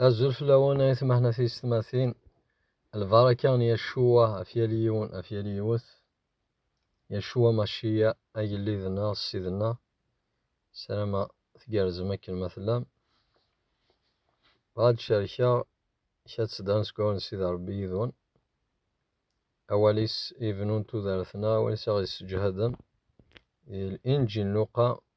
Azul fell-awen ay tmehna tiyessetmatin, lbaraka n Yacuwa ɣef yal yiwen, ɣef yal yiwet. Yacuwa Maciya, agellid-nneɣ, ssid-nneɣ. Sarameɣ tgerrzem akken ma tellam. Bɣa ad cerkeɣ kra tseddan seg wawal n Sidi Ṛebbi yid-wen. Awal-is ibennun tudert-nneɣ, awal-is aɣ-yessejhaden. Di Linǧil n Luqa,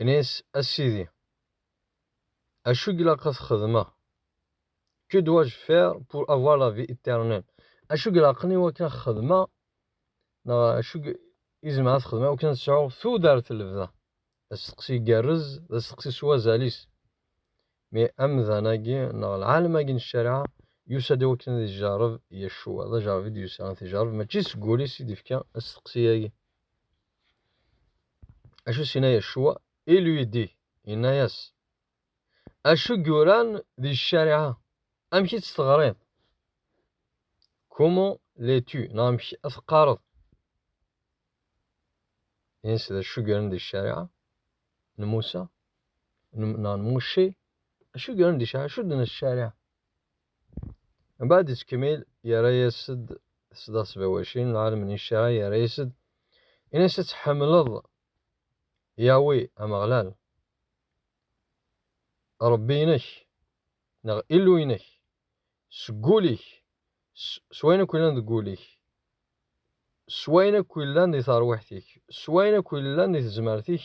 Nnan-as, A Sidi, acu i ilaq ad t-xedmeɣ? Que dois-je faire pour avoir la vie éternelle? Acu ilaqen i wakken ad xedmeɣ neɣ acu i zemreɣ ad xedmeɣ wakken ad sɛuɣ tudert n lebda? D asteqsi igerrez, d asteqsi s wazal-is. Mi amdan-agi neɣ lɛalem-agi n ccariɛa yusa-d i wakken ad ijerreb Yacua, d ajerreb i d-yusa ad t-ijerreb, mačči seg wul-is i d-ifka asteqsi-agi. Acu s-yenna Yacua? Il lui dit, yenna-yas, Acu i yuran di ccariɛa? Amek i tt-teɣriḍ? Comment l'es-tu? Neɣ amek ad teqqareḍ? Yenna-yas d acu i yuran di ccariɛa n Musa, neɣ n Mucce, acu i yuran di ccariɛa? Acu d-tenna ccariɛa? Mbaɛd yettkemmil yerra-yas-d tesdaɣ sbawacin, lɛalem n iccaɛ yerra-yas-d, in-as ad tḥemmleḍ Yawi Ameɣlal, Ṛebbi-inek, neɣ Illu-inek, seg wul-ik, s wayen akk yellan deg wul-ik, s wayen akk yellan di terwiḥt-ik, s wayen akk yellan di tezmert-ik,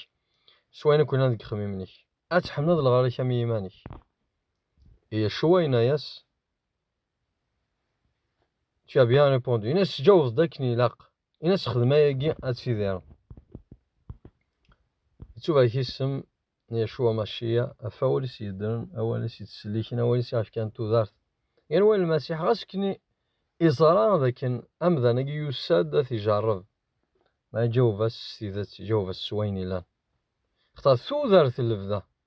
s wayen akk yellan deg yixemmimen-ik. Ad tḥemmleḍ lɣar-ik am yiman-ik. Et Yeshua yenna-yas, Tu as bien répondu. Yenna-as, tjawzeḍ akken ilaq. Yenna-as, xdem ayagi ad tidireḍ. Ittubarek isem n Yeshua Mashiya, ɣef awal-is yeddren, awal-is yettselliken, awal-is iɣefkan tudart. Yerwa Lmasiḥ, ɣas kni iẓra d akken amdan-agi yusa-d ad t-ijerreb. Ma iǧaweb-as s tidet, iǧaweb-as s wayen ilan. Xtar tudert n lebda.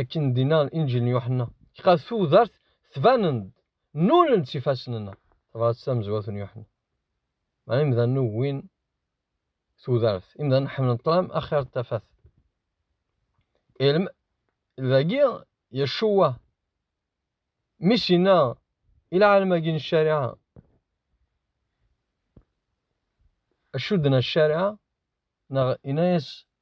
akken d-inna Inǧil n Yuḥenna, ɣef tudert tbanen-d, nnulen-d s ifassen-nneɣ. Tabrat tamezwarut n Yuḥenna. Meɛna imdanen ugin tudert, imdanen ḥemmlen ṭṭlam axir n tafat. Ilm, dagi Yeccuwa, mi s-inna i lɛalem-agi n ccariɛa, acudden a ccariɛa, neɣ inna-yas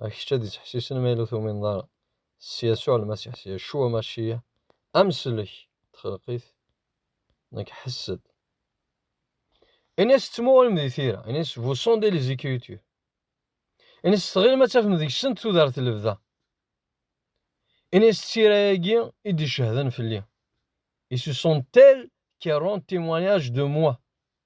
Ɣer kečč ad d-ittḥessisen ma yella ur tumineḍ ara s Yasuɛ Lmasiḥ s Yacua Maciyaḥ, Ameslek n txelqit, nekk ḥess-d. Ini-as tettmuɣulem di tira, ini-as vous sondez les écritures. Ini-as tɣilem ad tafem deg-sent tudert lebda. Ini-as tira-agi i d-icehden fell-i. Ils sont tels qui rendent témoignage de moi.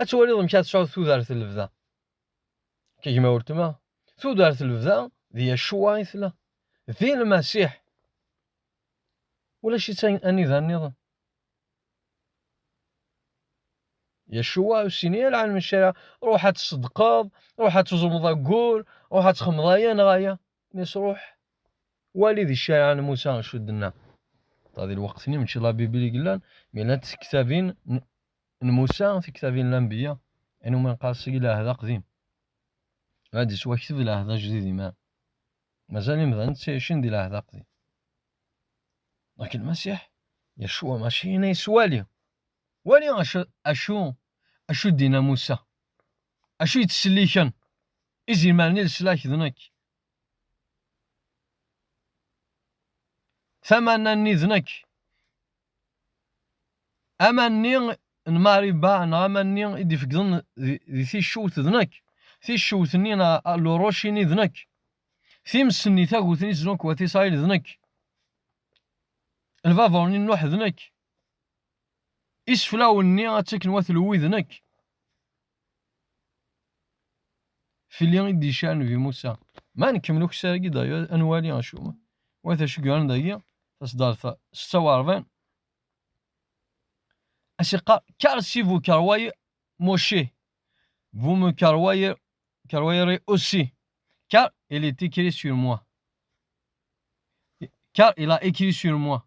Ad twaliḍ amek ad tesɛuḍ tudert n lebda. Kegma weltma, tudert n lebda d Yacuwa i tella, d Lmasiḥ. Ulac-itt anida nniḍen. Yacuwa ur sin i alɛan maca ruḥ ad tṣeddqeḍ, ruḥ ad tuẓumeḍ ayyur, ruḥ ad txemmeḍ aya neɣ aya. Mesruḥ, wali di ccariɛa n Musa cudden-a. Ṭa di lweqt-nni mačči labibel i yellan, mi llant tektabin n Musa, tektabin n lanbeyya, ayen umi neqqar seg lɛehd aqdim. Ad d-yettwakteb lɛehd ajdid imar. Mazal imdanen ttɛicin di lɛehd aqdim. Lakin Lmasiḥ, Yacwa Mačči, yenna-yas wali, wali acu, acu, acu d-yenna Musa. Acu yettselliken izimaren i leslak d nekk. Tamanna-nni d nekk. Amanni n Mariba neɣ amanni i d-ifegḍen di ticcewt d nekk. Ticcewt-nni neɣ luruc-ini d nekk. Times-nni tagut-nni s Nukwat Isṛayil d nekk. Lbabuṛ-nni n Nuḥ d nekk. Iseflawen-nni ad taken wat lwi d nekk. Fell-i i d-icar Nnbi Musa. Ma nkemmel ukessar-agi dayyu ad nwali acu. Wat acu yuran dagi tasdart setta u ṛebɛin. Ad s-iqqar Karsi bu karwayi Moshe. Bu mu karwayi karwayi ri aussi. Car il est écrit sur moi. Car il a écrit sur moi.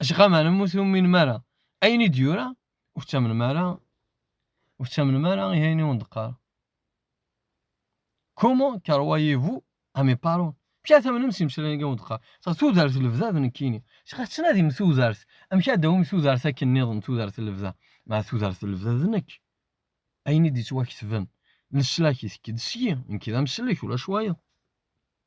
Acqa meɛna ur tuminem ara. Ayen i d-yura ur tettamnem ara, ur tettamnem ara i ayen i wen-d-qqar. Comment croyez-vous à mes paroles? Amek ara tamnem s imeslayen i wen-d-qqar? Sa tudert lebda d nekkini. Acqa tettnadim tudert, amek ara d-tawim tudert akken nniḍen tudert lebda? Ma tudert lebda d nekk. Ayen i d-yettwaketben leslak i tekk-d syi, nekk d amslek ulac wayeḍ.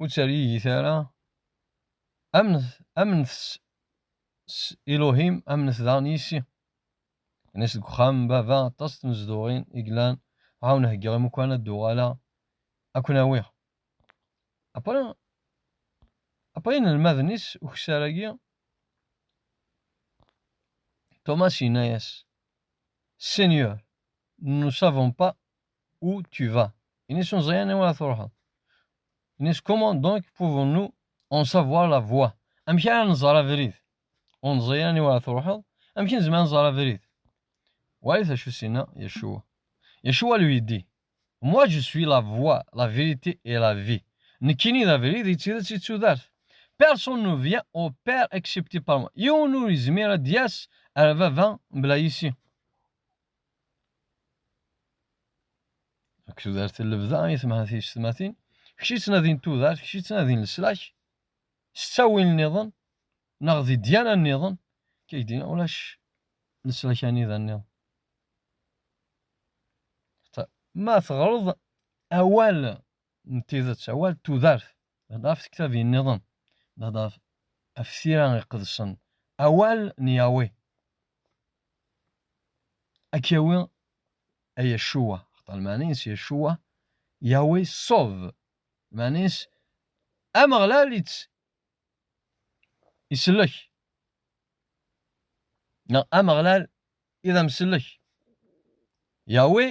ur ttergigit ara, amnet, amnet s, s Iluhim, amnet daɣen yis-i. Ini-as deg uxxam n baba aṭas tnezduɣin i yellan, ɛawen heggiɣ imukan ad d-uɣaleɣ ad ken-awiɣ. Après, après inelmaden-is ukessar-agi, Thomas yenna-as, Seigneur, nous ne savons pas Où tu vas Inès Meẓyan anwa ara truḥeḍ Inès comment donc pouvons-nous en savoir la voie amek ara nẓer abrid ur neẓri anwa ara truḥeḍ amek nezmer nẓer abrid walit acu sinna Yeshua Yeshua lui dit moi je suis la voie la vérité et la vie nekkini d abrid i d tidet i d tudert personne ne vient au père excepté par moi yiwen ur yezmir ad d-yas ar baba mebla yis-i Deg tudert n lebda i temha tiyessetmatin, kečč yettnadin tudert, kečč yettnadin leslak, s ttawil nniḍen, neɣ di ddiyana nniḍen, kay d ulac leslak anida nniḍen. Ma teɣreḍ awal n tidet, awal n tudert, hḍa ɣef tektabin nniḍen, hḍa ɣef tira iqedsen, awal n Yahweh. Ad k-yawi a Yacuwa, axaṭer lmeɛna-is Yacuwa, Yahweh Sov, lmeɛna-is Ameɣlal ittsellek, neɣ Ameɣlal i d amsellek, Yahweh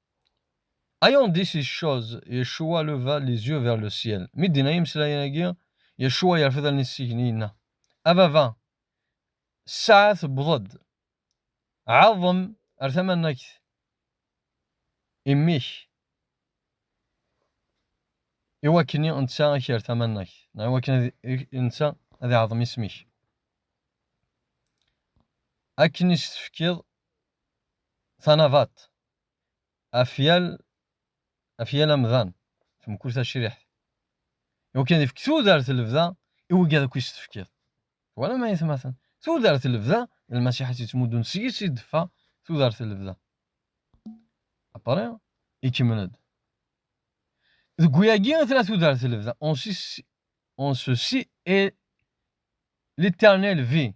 Ayant dit ces choses, Yeshua leva les yeux vers le ciel. Mi d-yenna imeslayen-agi, Yeshua yerfed allen-is seg-ni yenna, A Baba, ssaɛa tewweḍ-d, ɛaḍem ar tamannagt imi-k i wakken netta ad k-yerr tamannagt, neɣ i wakken netta ad iɛaḍem isem-ik. Akken i s-tefkiḍ tanabaḍt, afyal afyal amdan temkul tacriḥt iwakken ifk tudert lebda i wigad akk is tefkiḍ wala ma yetmaten tudert lebda lmasiḥ as yettmuddun seg-s i d-teffeɣ tudert lebda apare ikemmel-d deg wiyagi i tella tudert lebda on ceci est l'éternel vie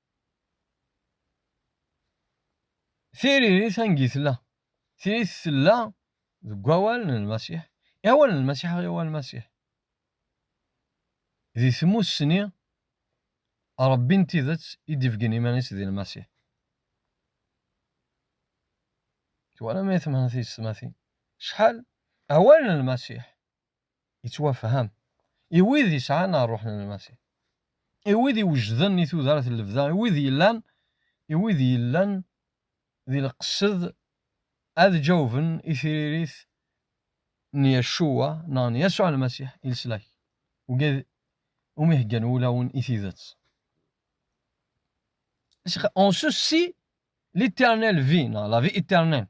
Tiririt angi tella? Tiririt tella deg wawal n Lmasiḥ, i awal n Lmasiḥ i awal n Lmasiḥ. Di tmussni, Ṛebbi n tidet i d-ibeggen iman-is di Lmasiḥ. Twalam ay temneḍ tiyessetmatin? Acḥal awal n Lmasiḥ Yettwafham. I wid yesɛan ṛṛuḥ n Lmasiḥ, i wid iwejden i tudert n lebda, i wid yellan, i wid yellan di lqesed ad ǧawben i tririt n Yaccuwa neɣ n Yasuɛ Lmasiḥ i leslak ugad umi heggan wulawen i tidet. Ont ceux-ci l'éternelle vie, neɣ la vie éternelle.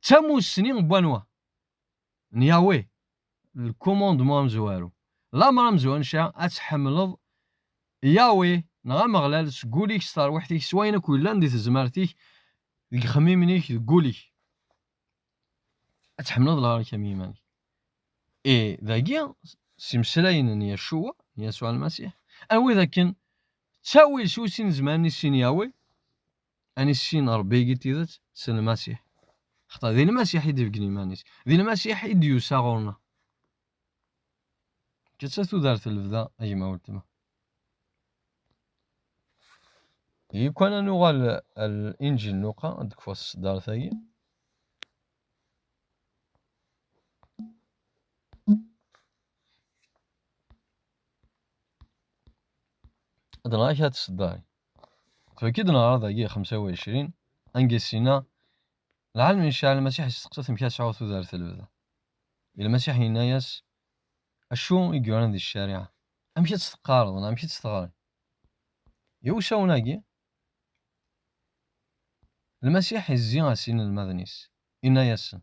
D tamussni n wanwa? N Yahweh, le commandement amezwaru. Lamer a mezwanca ad tḥemmleḍ Yahweh neɣ Ameɣlal seg wul-ik, s terwiḥt-ik, s wayen akk yellan di tezmert-ik, deg yixemmimen-ik, deg wul-ik. Ad tḥemmleḍ lɣar-ik am yiman-ik. Et dagi, s imeslayen n Yacua, n Yasuɛ Lmasiḥ, anwa i d akken ttawil s ussin zman i sin Yahweh, ad nissin Ṛebbi i tidet s Lmasiḥ. Xaṭer di Lmasiḥ i d-ibeggen iman-is, di Lmasiḥ i d-yusa ɣur-neɣ. Ǧǧet-tt tudert n lebda, a gma weltma. Yekwan ad nuɣal ar Inǧil n Luqa, ad d-kfuɣ tseddart-agi. Ad nɣer kra tseddarin. Tfekk-d neɣra dagi 25, anga sina, lɛalm inceɛ Lmasiḥ yesteqsa amek ad sɛuɣ tudert lebda. I Lmasiḥ yenna-yas, acu i yuran di ccariɛa? Amek ad tt-teqqareḍ neɣ amek ad tt-teɣriḍ? Iwsawen-agi, Lmasiḥ izzi-as inelmaden-is, inna-yasen,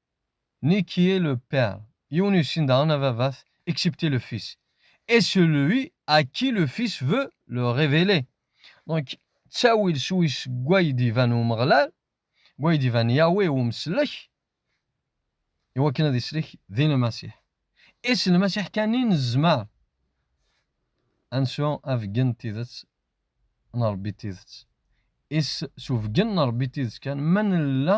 ni qui est le père yiwen ur yessin daɣen ababat excepté le fils et celui à qui le fils veut le révéler donc ttawil s wis gway d-iban Umeɣlal gway d-iban Yahweh i umeslek iwakken ad islek di Lmasiḥ i s Lmasiḥ kan i nezmer ad nsu abeggen n tidet n Rebbi d tidet is s ubeggen n Rebbi d tidet kan ma nella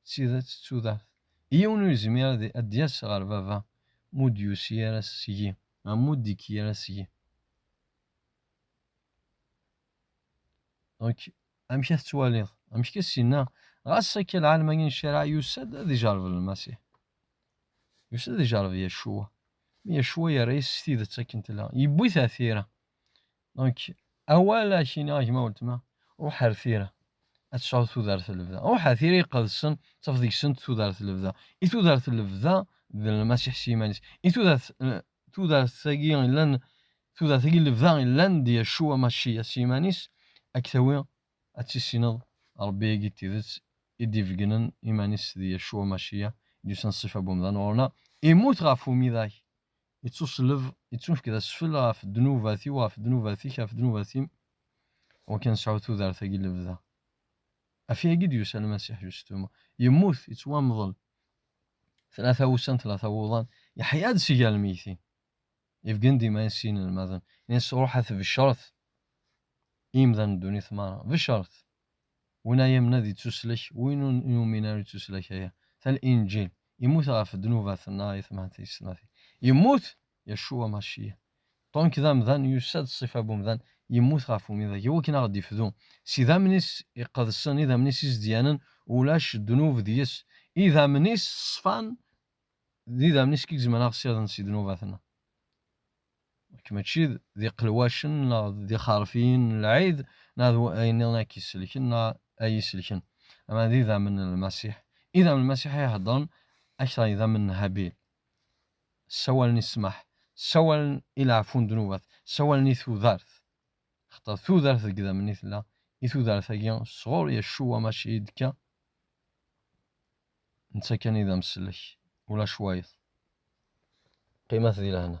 d tidet d tudert. Yiwen ur yezmir ad d-yas ɣer baba mu d-yusi ara seg-i, neɣ mu d-ikki ara seg-i. Donc, amek a tettwaliḍ? Amek a s-yenna? Ɣas akka lɛalmani n ccariɛa yusa-d ad ijerreb Lmasiḥ. Yusa-d ad ijerreb Yaccuwa. Mi Yaccuwa yerra-yas s tidet akken tella, yewwi-t ar tira. Donc, awal ad ak-ini a gma weltma, ruḥ ar tira, ad tecɛuḍ tudert n lebda. Ruḥ ar tira iqedsen, ttaf deg-sent tudert n lebda. I tudert n lebda d Lmasiḥ s yiman-is. I tudert tudert-agi illan tudert-agi n lebda illan d Yacua Maciya s yiman-is, ad k-tawi ad tissineḍ Rebbi-agi n tidet i d-ibeggnen iman-is d Yacua Maciya, i d-yusan ṣṣifa n wemdan ɣur-neɣ, immut ɣef umidag, ittuṣelleb, ittunefk d asfel ɣef ddnubat-iw, ɣef ddnubat-ik, ɣef ddnubat-im, iwakken ad nesɛu tudert-agi n lebda. Ɣef yagi d-yusa Lmasiḥ, justement. Yemmut, yettwamḍel, tlata wussan, tlata wuḍan, yeḥya-d si gar lmeytin. Yebgen-d iman-is i yinelmaden, nnan-as, Ruḥ a tbecret i yimdanen n ddunit merra, becret! Win a yamen ad ittuslek, win ur yumin ara ittuslek aya. Tal Inǧil, Immut ɣef ddnubat-nneɣ i temɛen tis snat. Yemmut! Yacua Maciya, ṭṭunk d amdan, yusa-d ṣṣifa n umdan, yemmut ɣef umidag, iwakken a ɣ-d-ifdu. S idammen-is iqedsen, idammen-is izedyanen, ulac ddnub deg-s. Idammen-is ṣṣfan, d idammen-is i igezmen aɣ-ssiɣden si ddnubat-nneɣ. Nekk mačči d iqelwacen neɣ d ixerfiyen n lɛid neɣ d wayen nniḍen ay k-isellken neɣ ay iyi-isellken, ama d idammen n Lmasiḥ. Idammen n Lmasiḥ ay iheddren akter n yidammen n Habil. Ssawalen i ssmaḥ, ssawalen i leɛfu n ddnubat, ssawalen i tudert. Axaṭer tudert deg idammen i tella, i tudert-agi sɣur Yaccuwa maca i d-tekka. Netta kan i d amsellek, ulac wayeḍ. Qqimet di lehna.